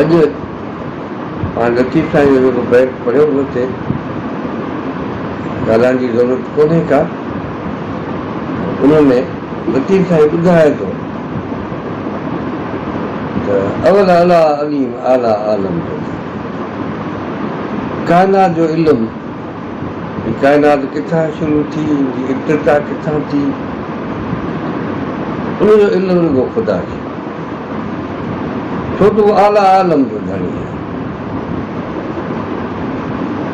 اڄ پاڻ لطيف سائين جو جيڪو بيت پڙهيو ويو اتي ڳالهائڻ جي ضرورت ڪونهي ڪا ان ۾ لطيف سائين ٻڌائي ٿو ته اول اعليٰ عليم اعليٰ عالم جو ڪائنات جو علم هي ڪائنات ڪٿان شروع ٿي، هن جي ابتدا ڪٿان ٿي، ان جو علم رڳو خدا کي آهي، ڇو ته هو اعليٰ عالم جو ڌڻي آهي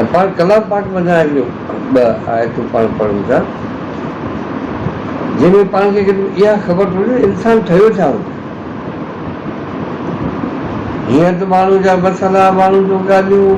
۽ پاڻ ڪلام پاڪ منجهان هڪڙيون ٻه آيتون پاڻ پڙهون ٿا، جنهن ۾ پاڻ کي گڏ ۾ اها خبر ٿو هجي ته انسان ٺهيو ڇا هوندو. هيئن ته ماڻهو جا مسئلا، ماڻهن جون ڳالهيون،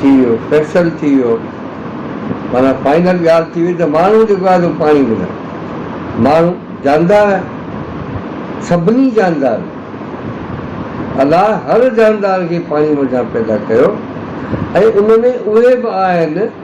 ٿي ويو فيصل ٿي ويو معنيٰ فائنل ڳالهه ٿي وئي ته ماڻهو جيڪو آهي سو پاڻي ملڻ ماڻهو جاندار آهي سڀني جاندار الله هر جاندار کي پاڻي منجهان پيدا ڪيو ۽ ان ۾ اهي به آهن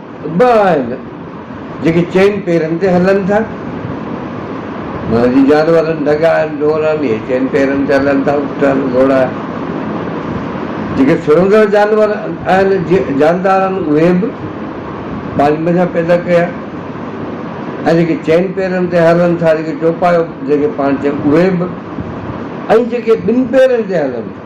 ٻه آهن جيڪي چئن پيرن تي هلن ٿا، معنيٰ جي جانورن، ڍڳائن، ڍورن، اهي چئن پيرن تي هلن ٿا، اٺن، گهوڙا، جيڪي سرندڙ جانور آهن، جاندار آهن، اهي به پاڻي منجهان پيدا ڪيا، ۽ جيڪي چئن پيرن تي هلن ٿا، جيڪي چوپايو جنهن کي پاڻ چئبو اهي به، ۽ جيڪي ٻن پيرن تي هلن ٿا.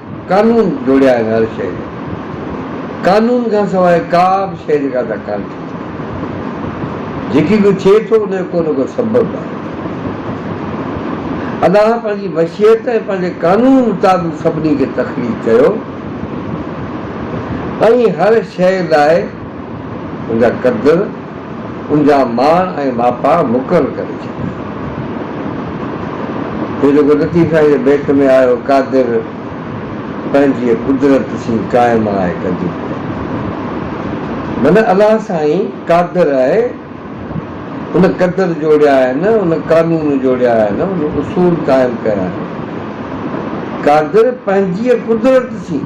قانون جوڙيا آهن هر شيء جا قانون کان سواء ڪا به شيء جيڪا ادا ڪانه ٿي سگهي جيڪي ڪو ٿئي ٿو ان جو ڪو نه ڪو سبب آهي ادا پنهنجي مشيت ۽ پنهنجي قانون مطابق سڀني کي تخليق ڪيو ۽ هر شيء لاء ان جا قدر ان جا ماڻ ۽ ماپا مقرر ڪري ڇڏيا. هي جيڪو لطيف سائين جي بيت ۾ آيو، قادر پنهنجيء قدرت سين قائم آهي قديم کان. معنيٰ الله سائين قادر آهي، ان قدر جوڙيا آهن، ان قانون جوڙيا آهن، ان اصول قائم ڪيا آهن. قادر پنهنجيء قدرت سين.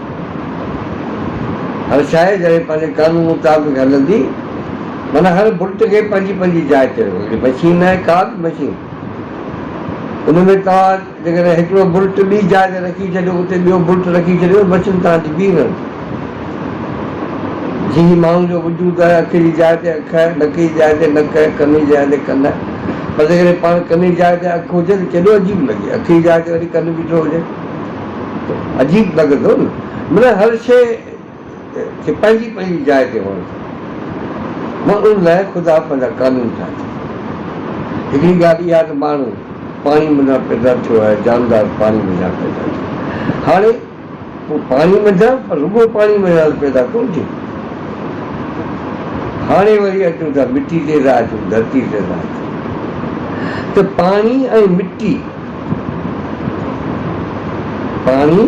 هر شاعر جڏهن پنهنجي قانون مطابق هلندي معنيٰ هر بت کي پنهنجي پنهنجي جاء تي رکو هڪڙي مشين نه آهي ڪا به مشين ان ۾ توهان جيڪڏهن هڪڙو بت ٻي جاء تي رکي ڇڏيو اتي ٻيو بت رکي ڇڏيو مشين توهان جي بيهي رهندي جي هي ماڻهو جو وجود آهي اک جي جاء تي اک آهي نڪ جي جاء تي نڪ آهي ڪن جي جاء تي ڪن آهي پر جيڪڏهن پاڻ ڪن جي جاء تي اک هجي ته ڪيڏو عجيب لڳي اک جي جاء تي وري ڪن بيٺو هجي. عجيب لڳي ٿو نه منا هر شيء کي پنهنجي پنهنجي جاء تي هئڻ کپي مان ان لاء خدا پنهنجا قانون ٺاهي ٿو هڪڙي ڳالهه اها ته ماڻهو پاڻي منجهان پيدا ٿيو آهي جاندار پاڻي منجهان پيدا ٿيو هاڻي هو پاڻي منجهان پر رڳو پاڻي منجهان ته پيدا ڪونه ٿيو هاڻي وري اچو ٿا مٽي تي ته اچو ڌرتي تي ته اچو ته پاڻي ۽ مٽي پاڻي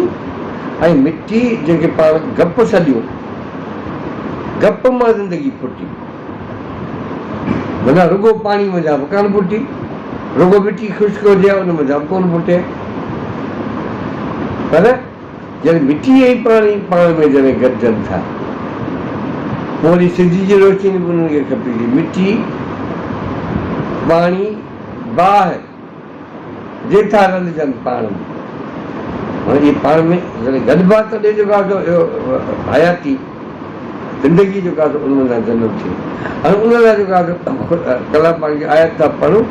۽ مٽي جنهن کي پاڻ گپ سڏيو، گپ مان زندگي ڦٽي، منهن رڳو پاڻي منجهان به ڪانه ڦٽي، رڳو مٽي خشڪ هجي ها ان منجهان به ڪونه ڦٽي، پر جڏهن مٽي ۽ پاڻي پاڻ ۾ جڏهن گڏجن ٿا، پوء وري سج جي روشني به انهن کي کپي ٿي، مٽي، پاڻي، باهه، جي ٿا رلجن پاڻ ۾. هاڻي جي پاڻ ۾ جڏهن گڏبا ته ڏي جيڪا سو اهو حياتي زندگي جيڪا سو ان مان جنم ٿئي ۽ ان لاء جيڪا سو ڪلام پاڪ جي آيت ٿا پڙهون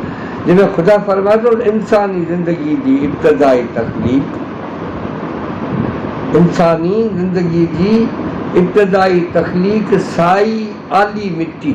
جنهن ۾ خدا فرمائي ٿو ته انساني زندگي جي ابتدائي تخليق انساني زندگي جي ابتدائي تخليق سائي آلي مٽي